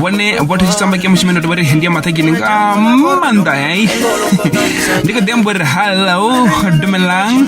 vhone vho tshi tamba ke mushime ndo vhari hendi ya mathagini nga manda yayi ndi kho dembo ri hello dumelang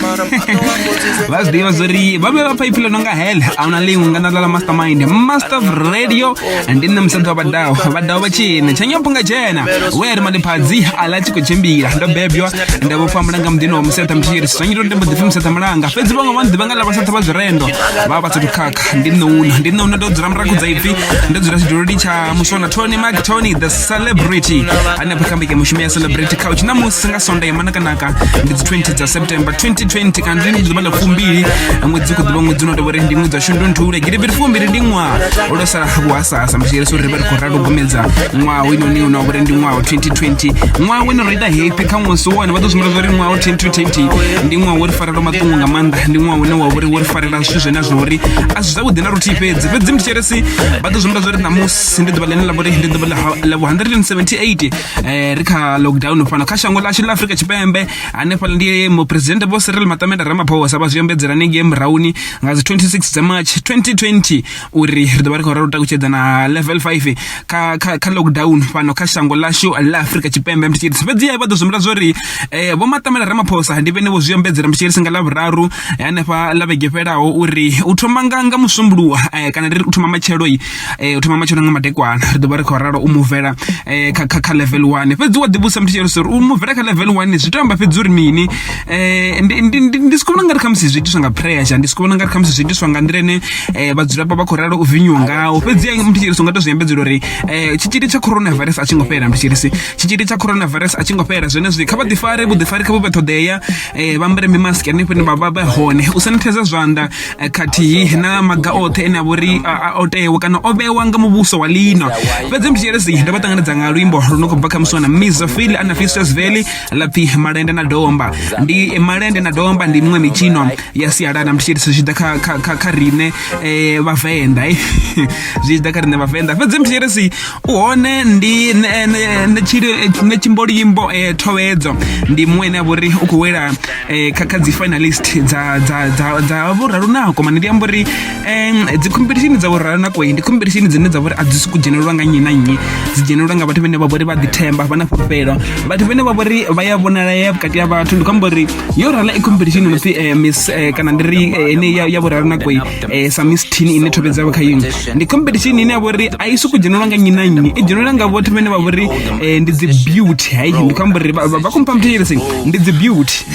vha zwi ḓivha zwori vha vhe vha phaiphi ḽo nga hell a una ḽiṅwe nga na ḽa mastermind master of radio ndi nṋe musadzi wa vhadao vhadao vha tshine tshanyo punga dzhena we ri maliphadzi a ḽa tshi khou tshimbila ndo bebywa nda vho famba nga muḓini wa musetha mthiri sanyi ndo ndembo ḓipfi musetha mulanga fhedzi vhaṅwe vha ḓivha nga ḽa vhasatha vha zwirendo vha vha sathu ndi nṋe ndi nṋe ndo dzula muraku dza ipfi ndo dzula tshiduloni tsha musona tony mark tony the celebrity hanefha kha mbekanyamushumo ya celebrity couch na musi nga sondae manakanaka ndi dzi 20 dza september 2020 kana ndi ḓuvha ḽa fumbili ṅwedzi u khou ḓivha ṅwedzi uno tovha uri ndi ṅwedzi wa shundunthule gidibiri fumbili ndi ṅwaha lwo sala vhuhasahasa mbishiyeleso uri ri vha ri khou ralo gomedza ṅwaha winoni una uri ndi ṅwaha wa 2020 ṅwaha wene ro ita happy kha ṅwesi wone vha ḓo sumbedza uri ṅwaha wa 2020 ndi ṅwaha wo ri farelwa maṱungu nga maanḓa ndi ṅwaha une wa vhori wo ri farela zwithu zwine zwa uri a zwi zwavhuḓi na luthihi fhedzi fhedzi mutshieresi vha ḓo zwimba zwa ri ṋamusi ndi ḓuvha ḽine ḽa vhori ndi ḓuvha ḽa 178 eh, ri kha lockdown fhano kha shango ḽashu ḽa afrika tshipembe hanefhaḽa ndi muphuresidennde vho sirel matamenda ramaphosa vha zwi ambedzela nengei murahuni nga dzi 26 dza march 2020 uri ri ḓo vha ri khou ralo takutshedza na level 5 kha kha kha lockdown fhano kha shango lashu la Afrika Tshipembe mthi tshiri fhedzi vha ḓo zwimela zwori eh vho matamela ramaphosa ndi vhene vho zwi ombedzela mthi tshiri nga la vhuraru hanefha la vhege fhelaho uri u thoma nga nga musumbuluwa eh, kana ri u thoma matshelo eh u thoma matshelo nga madekwana ri ḓo vha ri khou ralo u muvela eh kha kha level 1 fhedzi wa ḓivhusa mthi tshiri uri u muvela kha level 1 zwi tamba fhedzi uri mini Eh, ndi- ndi ndi- ndi si khou vhona ngari khamusi zwi itiswa nga pressure ndi si khou vhona ngari khamusi zwi itiswa nga nḓila ine eh, vhadzulapo vha khou ralo u vinyiwa ngao fhedziha mntu tshiri songa to zwi ambedzela uri eh, tshitzhili tsha coronavirus a tshi ngo fhela mntu tshiri si tshitzhili tsha coronavirus a tshi ngo fhela zwenezwi kha vha ḓifare vhuḓifari kha vhu vhe ṱhoḓea eh, vha ambare mimask hanefho ine vha vha vha hone u sanitheza zwanḓa eh, khathihi na maga oṱhe ene a vho ri a- a- o tewa kana o vhewa nga muvhuso wa lino fhedzi mntu tshiri si ndo vha ṱanganedza nga luimbo lu no khou bva kha muswana miss zofili ana fistus valley lapfi malende na domba ndi malende na domba ndi miṅwe mitshino ya sialala ndi tshi zwi tshi ḓa kha kha kha kha riṋe eh, vhavenḓa eh. zwi tshi ḓa kha riṋe vhavenḓa fhedzi mthirisi u hone ndi ne- ne- ne tshili- eh, ne tshimbolimbo eh, thowedzo ndi muṅwe ene a vhori u khou wela eh, kha kha dzi finalist dza dza dza dza vhuraru nako mane ndi amba uri um dzi khomphethishini dza vhurara na koi ndi khomphethishini dzine dza vhori a dzi soku dzhenelelwa nga nnyi na nnyi dzi dzhenelelwa nga vhathu vhene vha vhori vha ḓithemba vha na fhulufhelo vhathu vhene vha vhori vha ya vhonalea vhukati ha vhathu ndi khou amba uri yo rala i khomphethishini no pfi eh, miss eh, kana ndi ri eh, ene ya ya vhurara na koi eh, sa miss tin ine thobe dzavho kha yone ndi khomphethishini ine ya vhori a i soku dzhenelelwa nga nnyi na nnyi i dzhenelelwa nga vhathu vhene vha vhori eh, ndi dzi beauty hai ndi khou amba uri vha vha- vha competition ndi dzi beauty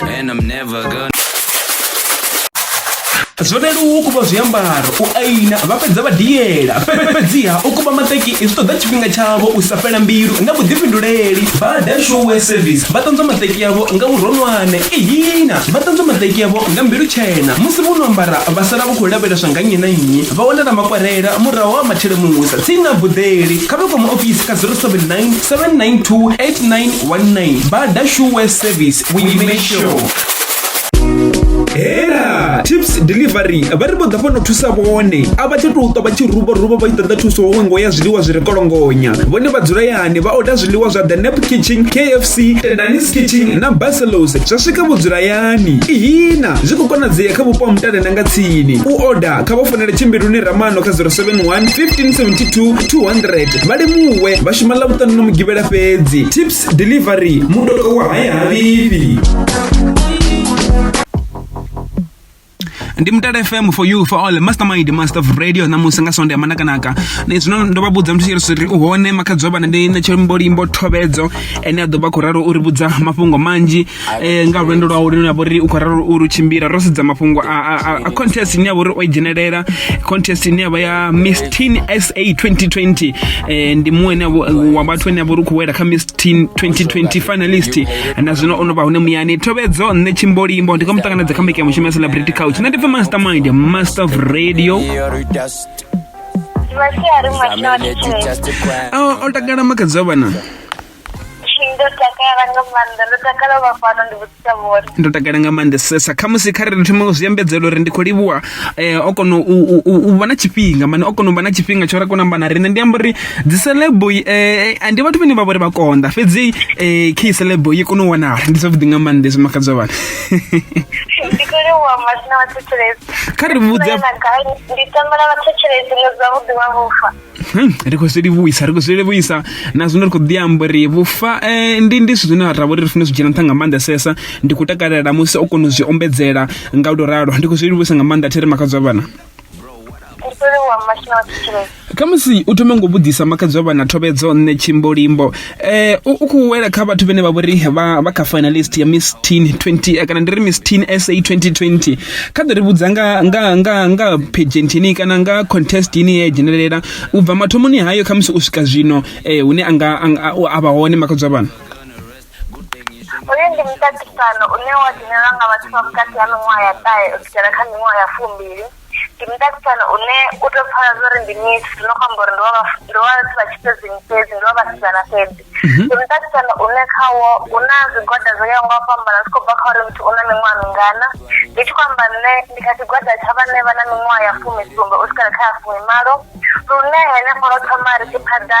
And I'm never gonna zwo leluwa u kuba zwiambaro u aina vha fhedza vha diela Fhe- fhedziha u kuba maṱeki zwi ṱoḓa tshifhinga tshavho u sa fhela mbilu na vhuḓifhinduleli vha dashuwe service vha ṱanzwa maṱeki avho nga vhuronwane ihina vha ṱanzwa maṱeki avho nga mbilu tshena musi vho no ambara vha sala vha khou lavheleswa nga nnyi na nnyi vha wanala makwarela murahu ha mathelemusa tsini na buḓeli kha vha kwama ofisi kha 079 792 89 19 bada sure service we make sure hela tips delivery vha ri vho ḓa fhano thusa vhone a vha tsha tou ṱwa vha tshi ruba ruba vha i ṱoḓa thuso huṅwe ngo ya zwiḽiwa zwi re kolongonya vhone vha dzula yani vha oda zwiḽiwa zwa the nap kitchen kfc tendanis kitchen na baselos zwa swika vho dzula yani ihina zwi khou konadzea kha vhupo ha mutale na nga tsini u oda kha vha fonele tshimbiluni ramano kha 071 1572 200 vha limuwe vha shuma ḽa vhuṱanu na mugivhela fhedzi tips delivery mutodo wa hayahavhifhi ndi mutala fm for you for all mastermind master of radio ṋamusi nga sonde ya manakanaka na zwino ndo vha vhudza muthu tshirisi ri u hone makhadzi wa vhana ndi na tshimbolimbo thovhedzo ene a ḓo vha khou ralo u ri vhudza mafhungo manzhi eh, nga lwendo lwa uri navho ri u khou ralo uri u tshimbila ro sedza mafhungo a contest ine ya vhori o i dzhenelela contest ine yavha ya miss teen sa 2020 eh, ndi muṅwe ene wa vhathu ene ya vhori u khou wela kha miss teen 2020 finalist na zwino o no vha hune muyani thovedzo nṋe tshimbolimbo ndi kho mu ṱanganedza kha mbekanya mushumo ya celebrity couch nṋe ndi pfa master mind master of radio o takala makadzi wa vhana Ndo takala nga maanḓa ndo takala u vha fhano ndi vhudzisa vhone ndo takala nga maanḓesesa khamusi kha ri thoma u zwi ambedzela uri ndi khou livhuwa eh, o kona u, u, u, u vha na tshifhinga mane o kona u vha na tshifhinga tsho ra kona amba na riṋe ndi amba uri dzi celebo eh, a ndi vhathu vhane vha vhori vha konḓa fhedzi eh, khe celebo i kona u wanala ndi zwavhuḓi nga maanḓa zwi makhadzo vhana ndi khou livhuwa masina vhathetshelesi kha ri vhudze na gai ndi tambela vhathetshelesi nga zwavhuḓi wa vhufa Hmm, ri khou zwi livhuisa ri khou zwi livhuisa na zwino ri khou ḓi amba uri vhufa eh, ndi ndi zwithu zwine ra vha uri ri funa zwi dzhena nṱha nga maanḓesesa ndi khou takalela musi o kona u zwi ombedzela nga u to ralo ndi khou zwi livhuisa nga maanḓa thiri makhadzwa vhana khamusi u thome ngo vhuḓisa makhadzi wa vhana thovhedzo nṋe tshimbolimbo eh u u khou wela kha vhathu vhene vha vhori vha vha kha finalist ya Miss Teen 20 eh, kana ndi ri Miss Teen SA 2020 kha ḓo ri vhudza nga nga nga nga pageant ini kana nga contest ini ye dzhenelela u bva mathomoni hayo kha musi u swika zwino eh hune anga anga- a- a vha hone makhadzo vhana uyu ndi muṱaṱisano une wa dzhenelwa nga vhathu vha vhukati ha miṅwaha ya ṱahe u swikela kha miṅwaha ya fumbili ndi mudavhidzani une u to pfala zwori ndi miss zwino kho amba uri ndi wa ndi wa vhathu vha tshifhedzini fhedzi ndi wa vhasidzana fhedzi mhm. ndi mudavhidzani une khawo hu na zwigwada zwo yaho nga u fhambana zwi khou bva kha uri muthu u na miṅwaha mingana ndi tshi khou amba nṋe ndi kha tshigwada tsha vhane vha na miṅwaha ya fumi sumbe u swikela kha ya fumi malo lune henefho ro thoma ri tshi phaḓa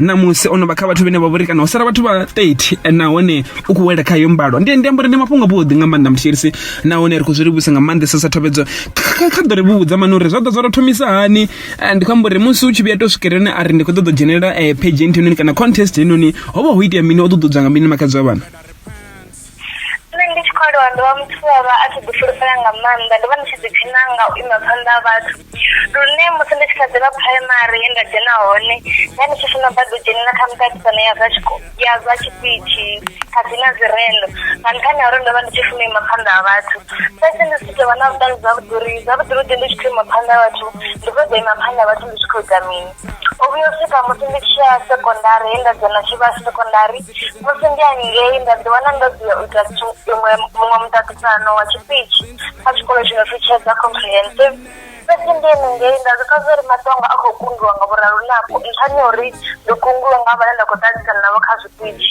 ṋamusi o no vha kha vhathu vhene vha vhori kana ho sala vhathu vha 30 eh, nahone u khou wela kha yo mbalo ndi ndi amba uri ndi mafhungo avhuḓi nga maanḓa muthierisi nahone ri khou zwi livhusa nga maanḓesa sa thovhedzo kha ḓo ri vhudza mani uri zwa ḓa zwa tou thomisa hani eh, ndi khou amba uri musi u tshi vhuya to swikelelani a ri ndi khou ṱoḓa u dzhenelela eh, page nthenoni kana contest henoni ho vha ho itea mini o ṱuṱudzwa nga mini makadzi wa vhana Nṋe ndi tshi khou aluwa ndo vha muthu we a vha a tshi ḓi fulufhela nga maanḓa ndo vha ndi tshi ḓi dina nga u ima phanḓa ha vhathu lune musi ndi tshi kha ḓivha phuraimari he nda dzhena hone nda ndi tshi funa badi u dzhenelela kha miṱaṱisano ya zwa tshikolo ya zwa tshiṱitshi khathihi na dzi rendo nga nṱhani ha uri ndo vha ndi tshi funa u ima phanḓa ha vhathu fhedzi ndi si tovha na vhuṱali zwavhuḓi uri zwavhuḓi vhuḓi ndi tshi khou ima phanḓa ha vhathu ndi kho ḓo ima phanḓa ha vhathu ndi tshi kho ita mini. o vhuya u swika musi ndi tshi ya sekondari he nda dzhena tshivhasi sekondari musi ndi hangei nda ḓi wana ndo ḓi ya u ita tshi- iṅwe muṅwe muṱaṱisano wa tshipitshi kha tshikolo tshi no pfi tshedza comprehensive fhedzi ndi henengei nda zwi pfa zwa uri maṱonga a khou kungiwa nga vhuraru nafho nṱhani ha uri ndi kungiwe nga vhane nda khou ṱaṱisana navho kha zwipitshi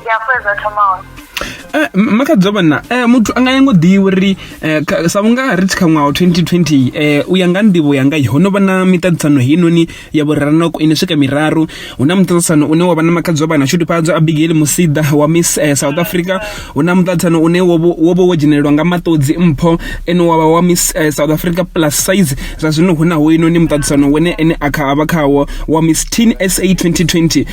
ndi afho ezwa thoma hone eh, makadzo vhana eh, muthu a nga yango ḓivhi uri eh, sa vhunga ri tshi kha ṅwaha wa 2020 eh, u ya nga nḓivho yanga ho no vha na miṱaṱisano heinoni ya vhuraranoko ine swika miraru hu na muṱaṱisano une wa vha na makadzo vhana shudufhadzo abigail musida wa miss eh, south africa hu na muṱaṱisano une wo vha wo dzhenelelwa nga maṱodzi mpho ene wa vha wa miss eh, south africa plus size zwa zwino hu na hoinoni muṱaṱisano wene ene a kha a vha khawo wa miss teen sa 2020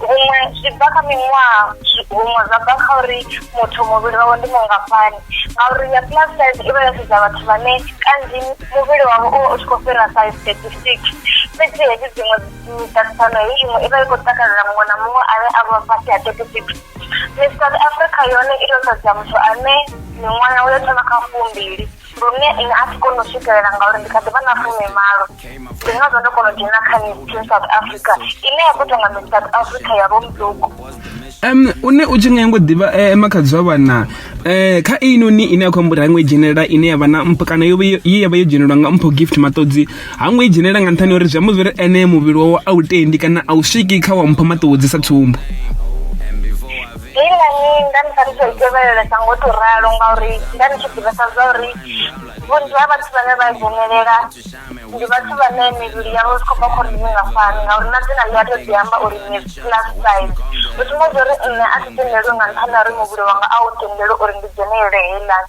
huṅwe zwi bva kha miṅwaha huṅwe zwa bva kha uri muthu muvhili wawe ndi mungafhani ngauri ya plus size i vha yo sedza vhathu vhane kanzhi muvhili wavho u vha u tshi khou fhira size thirty six fhedzi hedzi dziṅwe miṱaṱisano hei iṅwe i vha i khou takalela muṅwe na muṅwe ane a vha fhasi ha thirty six miss south africa yone i to sedza muthu ane miṅwaha yawe yo thoma kha fumbili lune ine a thi koni u swikelela ngauri ndi kha ḓi vha na fumimalo ndi ngazwo ndo kona u dzhena kha mitin south africa ine ya khou ita nga mitin south africa ya vho muduku um une u tshi nga ngo ḓivha eh, makhadzi wa vhana eh, kha inoni ine ya khou amba uri ha ngo i dzhenelela ine ya vha na mpho kana yo vha yo- ye ya vha yo dzhenelelwa nga mpho gift maṱodzi ha ngo i dzhenelela nga nṱhani uri zwi amba zwori ene muvhili wawe a u tendi kana a u swiki kha wa mpho maṱodzi sa tsumbo Ndi ngani nda ni sa ni khou tevhelelesa ngo tou ralo ngauri nda ni tshi ḓivhesa zwa uri vhunzhi ha vhathu vhane vha dzhenelela ndi vhathu vhane mivhili yavho zwi khou bva khou ri ni nga fani ngauri na dzina ḽi a tou ḓi amba uri ni plus size u sumbedza uri nṋe a thi tendeliwi nga nṱhani ha uri muvhili wanga a u tendeliwi uri ndi dzhenelele heiḽani.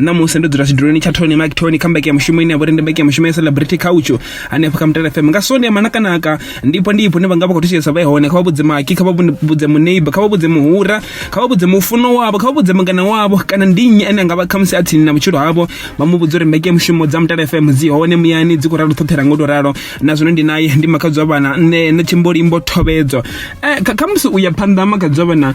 ṋamusi ndo dzula tshiduloni tsha tony mike tony kha mbeke ya mushumo ine ya vhori ndi mbeke ya mushumo ya celebrity couch hanefho kha mutala fm nga sonde ya manakanaka ndipo ndi ipo ne vha nga vha khou thetshelesa vha hone kha vha vhudze maki kha vha vhudze muneighbor kha vha vhudze muhura kha vha vhudze mufuno wavho kha vha vhudze mungana wavho kana ndi nnyi ane anga vha khamusi a tsini na vhutshilo havho vha mu vhudze uri mbeke ya mushumo dza mutala fm dzi hone muyani dzi khou ralo ṱhoṱhela ngo to ralo na zwino ndi naye ndi makhadzwa vhana nṋe na tshimbolimbo thobedzo eh, khamusi u ya phanḓa makhadzwa vhana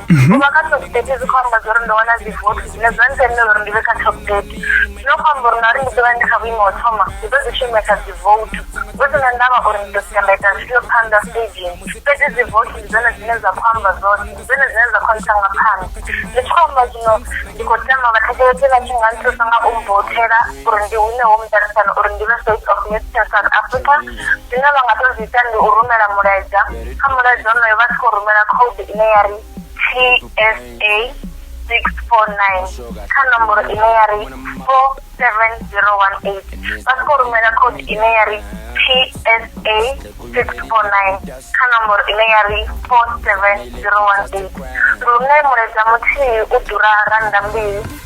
u vha kha top thirty zwi khou amba zwa uri ndo wana dzi vote zwine zwa ntendela uri ndi vhe kha top thirty zwino khou amba uri ngauri ndi ḓo vha ndi kha vhuimo ho thoma ndi ḓo dzi shumesa dzi vote hu si na ndavha uri ndi ḓo sika nda ita zwifhio phanḓa staging fhedzi dzi vote ndi dzone dzine dza khou amba zwoṱhe ndi dzone dzine dza khou ntanga phanḓa ndi tshi khou amba zwino ndi khou tama vhathetshelesi vha tshi nga nthusa nga u mvothela uri ndi hune ho muṱalisano uri ndi vhe state of nation south africa zwine vha nga to zwi ita ndi u rumela mulaedza kha mulaedza onoyo vha tshi khou rumela code ine ya ri tsa six four nine kha nomboro ine ya ri four seven zero one eight vha tshi khou rumela code ine ya ri tsa six four nine kha nomboro ine ya ri four seven zero one eight lune mulaedza muthihi u ḓura rannda mbili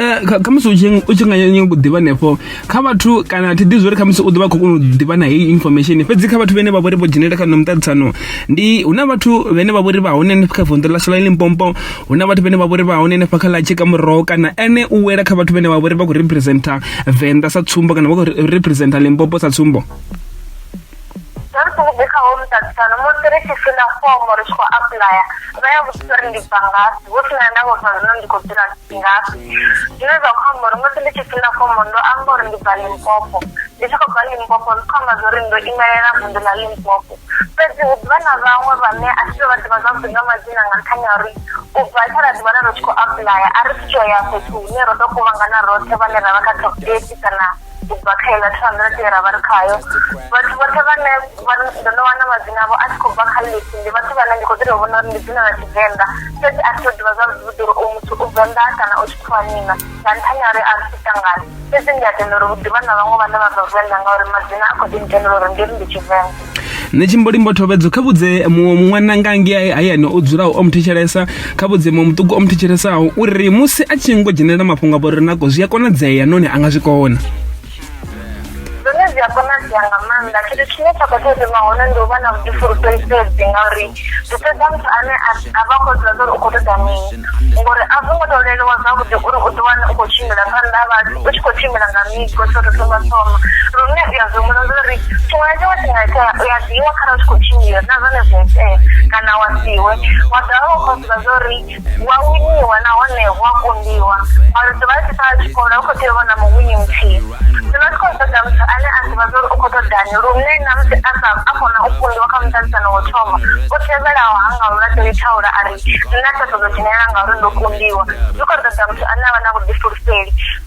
Eh, kha musi u tshi nga nyanga u ḓivha nefho kha vhathu kana thi ḓi zwori kha musi u ḓovha khou kona u ḓivha na heyi information fhedzi kha vhathu vhane vha vhori vho dzhenela kha no muṱaṱisano ndi hu na vhathu vhane vha vhori vha hone hanefha kha vunḓu ḽa sola limpompo hu na vhathu vhane vha vhori vha hone hanefha kha ḽa tshika muroho kana ene u wela kha vhathu vhane vha vhori vha khou representa venḓa sa tsumbo kana vha khou representa limpopo sa tsumbo Vha ri songo ḓi kha ho muṱaṱisano musi ri tshi fila fomo ri tshi khou apuḽaya vha ya vhudzisa uri ndi bva ngafhi hu si na ndavha uri zwino ndi khou dzula ngafhi zwine zwa khou amba uri musi ndi tshi fila fomo ndo amba uri ndi bva limpopo ndi tshi khou bva limpopo zwi khou amba zwa uri ndo imelela vunḓu ḽa limpopo fhedzi hu ḓivha na vhaṅwe vhane a thi to vha ḓivha zwavhuḓi nga madzina nga nṱhani ha uri u bva tsha ra ḓiwana ro tshi khou apuḽaya a ri tshi to ya fhethu hune ro to kuvhangana roṱhe vhane ra vha kha top eight kana ubva kha iḽa 200 ye ra vha ri khayo vhathu vhoṱhe vhane ndo no wana madzina avho a tshi khou bva kha lisi ndi vhathu vhane ndi khou ḓi tou vhona uri ndi dzina ḽa tshivenḓa fhedzi a thi to ḓivha zwavhuḓi uri u muthu u venḓa kana u tshikhuwanina nga nṱhani ha uri a ri tangani fhedzi ndi a tenda uri hu ḓivha na vhaṅwe vhane vha bva venḓa ngauri madzina a khou ḓi ntendela uri ndi ri ndi tshivenḓa nṋe tshimbolimbo thovhedzo kha vhudze muṅwe ṅwananga ngei hayani o dzulaho o muthetshelesa kha vhudze muṅwe muṱuku o muthetshelesao uri musi a tshi ngo dzhenelela mafhungo a vhori nako zwi a konadzea noni a nga zwi kona zwone zwi a konadzea nga maanḓa tshithu tshine tsha khou tea u thoma hone ndi u vha na vhuḓifulufheli fhedzi ngauri zwi fhedza muthu ane a vha khou ḓivha uri u khou ṱoḓa mini ngori a zwo ngo tou leluwa zwavhuḓi uri u ḓiwane u khou tshimbila phanḓa ha vhathu u tshi khou tshimbila nga migo tsho tou thoma thoma lune u ya zwihumula uri tshiṅwe na tshiṅwe tshi nga itea u ya ḓiwa kharali u tshi khou tshimbila na zwone zwi itea kana wa siwe wa dovha wa khou ḓivha zwa uri hu a winiwa nahone hu a kundiwa maludzi vha tshi sala tshikolo hu khou tea u vha na muwini muthihi zwino tshi khou ṱoḓa muthu ane a ḓivha zwa uri u khou ṱoḓani lune na musi a sa a kona u kundiwa kha muṱalisano wo thoma u tevhelaho ha nga u laṱeli thaula a ri nṋe a sa ṱoḓo dzhenelela ngauri ndo kundiwa zwi khou ṱoḓa muthu ane a vha na vhuḓifulufheli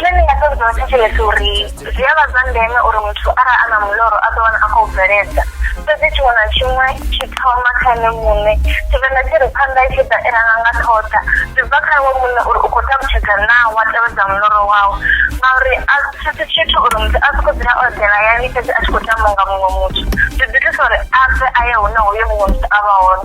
Zwine ndi nga ṱoḓa u thetshelesa uri zwi a vha zwa ndeme uri muthu arali a na muloro a ḓo wana a khou bveledza fhedzi tshiṅwe na tshiṅwe tshi thoma kha ene muṋe tshivenḓa tshi ri phanḓa i tshi ḓa i ranga nga ṱhoḓa zwi bva kha iwe muṋe uri u khou ṱalutshedza naa wa tevhedza muloro wau ngauri a thi si tshithu uri muthu a sokou dzula o eḓela hayani fhedzi a tshi khou tambiwa nga muṅwe muthu zwi ḓi thusa uri a bve a ye hune hoyo muṅwe muthu a vha hone.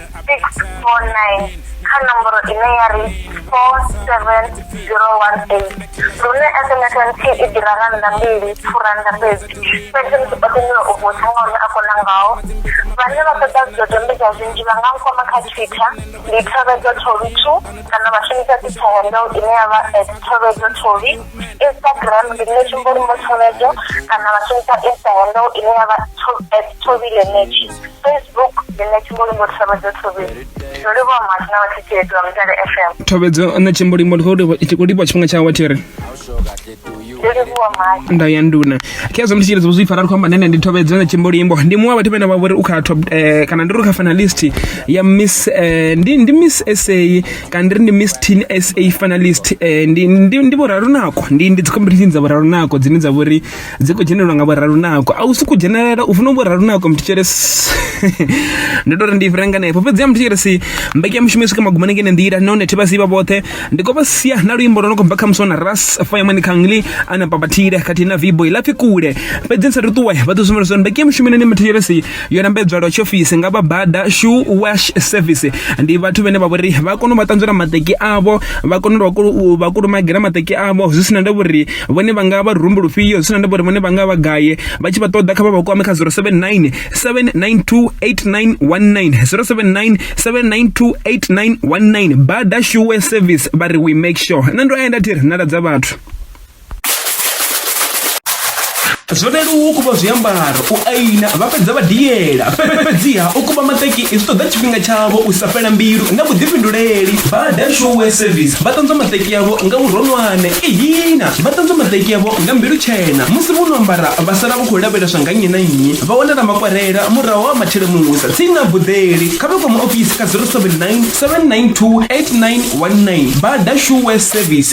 649 kha nomboro ine ya ri 47018 lune sms nthihi i ḓira nga nṋa mbili furanda fhedzi fhedzi ndi ṱoḓa nyulo u vhudza nga hune a kona ngaho vhane vha ṱoḓa zwidodombedzwa zwinzhi vha nga nkwama kha twitter ndi thovedzo thovi two kana vha shumisa twitter handle ine ya vha at thovedzo thovi instagram ndi nṋe tshimbolumo thovedzo kana vha shumisa insta handle ine ya vha at thovi lenetshi facebook ndi nṋe tshimbolimo thavhadzo thobeni ndo livhuwa muhasho na vhathetshelesi vha mutale fm thobedzo nṋe tshimbolimo ndi khou livhuwa tshifhinga tshawe thi ri ndo livhuwa muhasho nda ya nduna khezwo ndi tshitsheledzo zwi fara ri khou amba nene ndi thobedzo nṋe tshimbolimbo ndi muṅwe wa vhathu vhene vha vhori u kha top eh, kana ndi ri kha finalist ya miss eh, ndi, ndi miss sa kana ndi ri ndi miss teen sa finalist eh, ndi, ndi, ndi vhorarunako ndi, ndi dzi competition dza vhorarunako dzine dza vhori dzi khou dzhenelelwa nga vhoralunako a u si ku dzhenelela u funa vhoralunako muthu tshelesi ndi to ri ndi fhira nganefho fhedzi ya muthu tshelesi mbekanyamushumo i swika magumoni ngene nḓila nahone thi vha sivha vhoṱhe ndi khou vha sia na luimbo lwo no khou bva kha musi na ras fayamani khangli ana babatile khathihi na vibo i lapfi kule fhedzi ni sa ri ṱuwe vha ḓo sumbela zwa uri mbekanyamushumo ine ni muthu tshelesi yo lambedzwa lwa tshiofisi nga vha bada shoe wash service ndi vhathu vhane vha vhori vha kona u vha ṱanzwela maṱeki avho vha kona u vha kulumagela maṱeki avho zwi sina nda vhori vhone vha nga vha rumbu lufhio zwi sina nda vhori vhone vha nga vha gaye vha tshi vha ṱoḓa kha vha vha kwame kha 079 7928919 079 7928919 bada shoe service vha ri we make sure nṋe ndo enda thiri nala dza vhathu zwo leluwa u kuvha zwiambaro u aina vha fhedza vha diela fhedziha u kuvha maṱeki zwi ṱoḓa tshifhinga tshavho u sa fhela mbilu na vhuḓifhinduleli bada showe service vha ṱanzwa maṱeki yavho nga vhuronwane ihina vha ṱanzwa maṱeki yavho nga mbilu tshena musi vho no ambara vha sala vha khou lavheleswa nga nnyi na nnyi vha wanala makwarela murahu ha matshele musa tsini na buḓeli kha vha kwama ofisi kha 079 792 8919 bada showe service